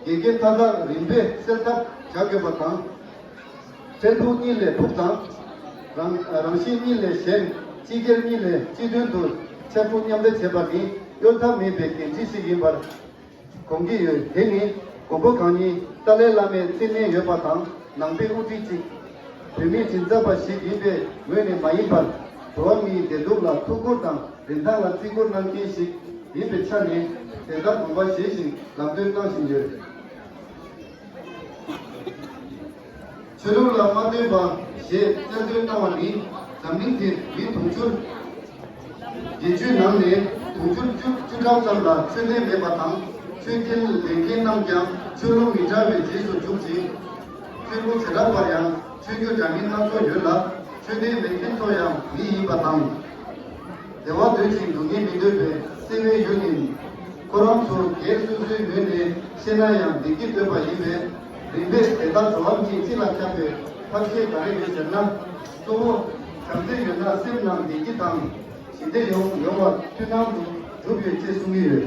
དགེ་རྒན་མཐའ་དག་རིམ་པས་སེལ་ཐབས་བྱ་དགོས་པ་དང། འཕྲལ་ཕུགས་གཉིས་ལས་ཕུགས་དང། རང་རང་བཞིན་གཉིས་ལས་གཞན། སྤྱི་སྒེར་གཉིས་ལས་སྤྱི་དོན་དུ་ཚད་མཐོ་མཉམ་འདྲེས་བྱེད་པ་ནི་གཡོལ་ཐབས་མེད་པའི་འགན་འཁྲི་ཞིག་ཡིན་པར་དགོངས་ཀྱི་ཡོད། དེ་ནི་མགོན་པོ་གང་ཉིད་ཏཱ་ལའི་བླ་མས་བརྩིས་མེད་ཡོད་པ་དང་ནང་པའི་དབུ་ཁྲིད་ཅིག་བོད་མི་མགྲིན་ཚབ་པ་ཞིག་ཡིན་པའི་ངོས་ནས་མ་ཡིན་པར། འགྲོ་བ་མིའི་བདེ་སྡུག་ལ་ཐུགས་ཁུར་དང་རིན་ཐང་ལ་བརྩི་བཀུར་གནང་མཁན་ཞིག་ཡིན་པའི་ཆ་ནས། དེ་ལྟར་དགོངས་པ་བཞེས་བཞིན་ལམ་སྟོན་གནང་བཞིན་ཡོད། ཆོས་ལུགས་ལ་མ་བསྟུན་པ་ཞེས་བསྟན་དོན་གནང་བ་ནི་འཛམ་གླིང་འདིར་མི་དུང་ཕྱུར་བརྒྱད་ཅུའི་ནང་ནས་དུང་ཕྱུར་བཅུ་བཅུ་གྲངས་ཙམ་ལ་ཆོས་དད་མེད་པ་དང་ཆོས་རྒྱལ་ལེན་མཁན་རྣམས་ཀྱང་ཆོས་ལུགས་མི་འདྲ་བའི་རྗེས་སུ་འཇུག་ཅིང། ཆོས་ལུགས་དེ་དག་ལ་ཡང་ཆོས་བརྒྱུད་འདྲ་མིན་སྣ་ཚོགས་ཡོད་ལ། ཆོས་ལྡན་མེད་མཁན་ཚོ་ཡང་མི་ཡིན་པ་དང། བདེ་བ་འདོད་ཅིང་སྡུག་བསྔལ་མི་འདོད་པའི་བསིལ་བའི་ཡུལ་ནི། ཁོ་རང་ཚོ་རྒྱའི་སོ་སོའི་ངོས་ནས་བཤད་ན་ཡང་བདེ་སྐྱིད་སྟོན་པ་ཡིན་པས། རིམ་པས་དེ་དག་བྲོ་བ་མིའི་སྤྱི་ལ་ཁྱབ་པའི་ཐབས་ཤེས་ག་རེ་ཡོད་ཟེར་ན། གཙོ་བོ། བྱམས་བརྩེ་ཡོད་ན་སེམས་ནང་བདེ་སྐྱིད་དང། ཞི་བདེ་ཡོང་ཡོང་བ་མཐུན་སྣང་དུ་གྲུབ་ཡོད་ཅེས་གསུང་གི་ཡོད།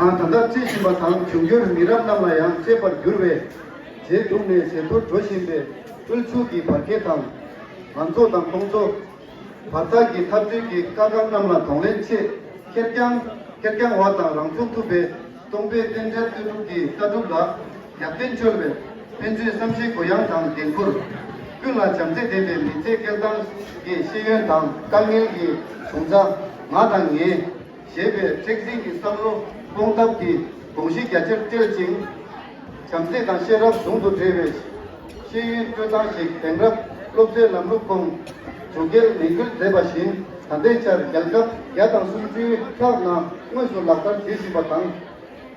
ཨང་ད་ལྟ་རྩི་བཞིན་པ་དང་འབྱུང་འགྱུར་མི་རབས་རྣམས་ལ་ཡང་གཅེས་པར་འགྱུར་བས། རྗེས་སྒྲུབ་ནས་ཇེ་མཐོར་འགྲོ་བཞིན་པའི་དབུལ་ཕྱུག་གི་བར་ཁེ་དང། མང་གཙོ་དང་དམངས་གཙོ། བར་ཐག་གི་འཐབ་རྩོད་ཀྱི་དཀའ་ཁག་རྣམས་ལ་གདོང་ལེན་ཆེད་ཁེར་རྐྱང། ཁེར་རྐྱང་བ་དང་རང་ཚུགས་ཐུབ་པའི་སྟོང་པའི་རྟེན་འབྲེལ་ལྟོས་གྲུབ་ཀྱི་ལྟ་གྲུབ་ལ། ཡར་ཐོན་སྐྱོད་པའི་ཕན་ཚུན་བསམ་ཤེས་གུ་ཡངས་དང་འགན་འཁུར། ཀུན་ལ་བྱམས་བརྩེ་ལྡན་པའི་མི་ཚེ་སྐལ་བཟང་གི་ཤེས་ཡོན་དང་དཀའ་ངལ་གྱི་བྱུང་རྩ། ང་དང་ངའིཞེས་པའི་མཁྲེགས་འཛིན་གྱི་བསམ་བློ་སྤོང་ཐབས་ཀྱི་དགོངས་གཞི་རྒྱ་ཆེར་བཀྲལ་ཅིང། བྱམས་བརྩེ་དང་ཤེས་རབ་ཟུང་དུ་འབྲེལ་བའི་ཤེས་ཡོན་སྤྲོད་སྟངས་ཤིག་དེང་རབས་སློབ་གསོའི་ལམ་ལུགས་ཁོངས་སུ་སྐྱེལ་ནན་སྐུལ་མཛད་པ་བཞིན་ད་ལྟའི་ཆར་རྒྱལ་ཁབ་བརྒྱ་དང་སུམ་ཅུའི་ཁག་ནང་དངོས་སུ་ལག་བསྟར་བྱེད་བཞིན་པ་དང།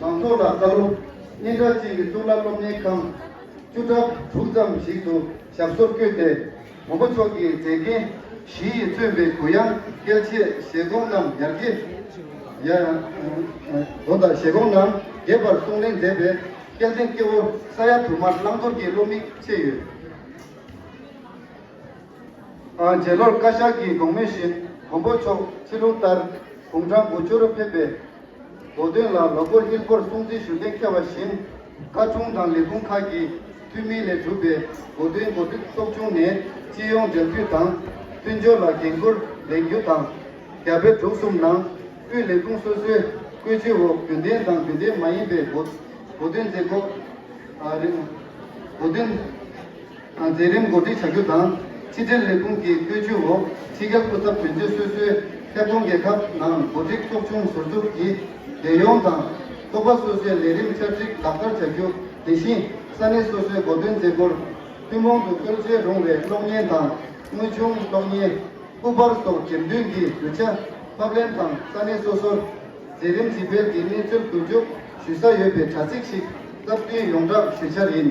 མང་ཚོགས་ལ་བཀའ་སློབ། སྙན་གྲགས་ཅན་གྱི་གཙུག་ལག་སློབ་གཉེར་ཁང་བཅུ་ཕྲག་དྲུག་ཙམ་ཞིག་ཏུ་ཞབས་སོར་བསྐྱོད་དེ། བུམ་པ་མཆོག་གི་མཛེས་རྒྱན་བཞི་ཡིས་མཚོན་པའི་གུ་ཡངས་སྐལ་ཆད་བཞེད་སྒོམ་རྣམས་ཡར་རྒྱས། སྒོམ་དང་བཞེད་སྒོམ་རྣམས་རྒྱས་པར་གསུང་གླེང་མཛད་པས་སྐལ་ལྡན་སྐྱེ་བོ་ས་ཡ་དུ་མར་བླང་དོར་གྱི་བློ་མིག་ཕྱེ་ཡོད། རྗེ་ལོར་བཀའ་ཤག་གིས་དགོངས་མོས་བཞིན་མགོན་པོ་མཆོག་ཕྱི་ལུགས་ལྟར་དགུང་གྲངས་དགུ་བཅུ་རུ་ཕེབས་པའི་མདོ་བདུན་ལ་ལོ་འཁོར་དབྱིན་སྒོར་སྲུང་བརྩི་ཞུ་གཏན་འཁེལ་བ་བཞིན་བཀའ་དྲུང་དང་ལས་ཁུངས་ཁག་གི་འཐུས་མི་ལས་གྲུབ་པའི་མགོ་བདུན་འགོ་ཁྲིད་ཚོགས་ཆུང་ནས་སྤྱི་ཡོངས་སྦྲེལ་མཐུད་དང་མཐུན་སྦྱོར་ལ་འགན་ཁུར་ལེན་རྒྱུ་དང། རྒྱ་བལ་འབྲུག་གསུམ་ནང་དབུས་ལས་ཁུངས་སོ་སོའི་བཀོད་ཇུས་འོག་རྒྱུན་ལྡན་དང་རྒྱུན་ལྡན་མ་ཡིན་པའི་མགོ་བདུན་མཛད་སྒོ་རིང་མགོ་བདུན། མཛད་རིམ་འགོ་ཁྲིད་བྱ་རྒྱུ་དང་ཕྱི་དྲིལ་ལས་ཁུངས་ཀྱི་བཀོད་ཇུས་འོག་ཕྱི་རྒྱལ་སྐུ་ཚབ་དོན་གཅོད་སོ་སོའི་ཁྱབ་ཁོངས་རྒྱལ་ཁབ་ནང་འགོ་ཁྲིད་ཚོགས་ཆུང་ཟུར་འཛུགས་ཀྱིས་རྒྱལ་ཡོངས་དང། ཚོགས་པ་སོ་སོའི་ལས་རིམ་བསྐྱར་སྒྲིག་ལག་བསྟར་བྱ་རྒྱུ་དེ་བཞིན་ས་གནས་སོ་སོའི་འགོ་དོན་མཛད་སྒོར་ཐུན་མོང་དུ་བཀོལ་བྱེད་རུང་བའི་གློག་བརྙན་དང་དངོས་བྱུང་གློག་བརྙན། སྐུ་པར་སོགས་འགྲེམས་སྟོན་གྱི་རྒྱུ་ཆ་ཕབ་ལེན་དང་ས་གནས་སོ་སོར་མཛད་རིམ་ཇི་སྤེལ་གྱི་གནས་ཚུལ་བསྡུ་རྒྱུགས་ཞུ་ས་ཡོད་པའི་དྲ་ཚིགས་ཤིག་སྟབས་བསྟུན་ཡོངས་བསྒྲགས་ཞུ་འཆར་ཡིན།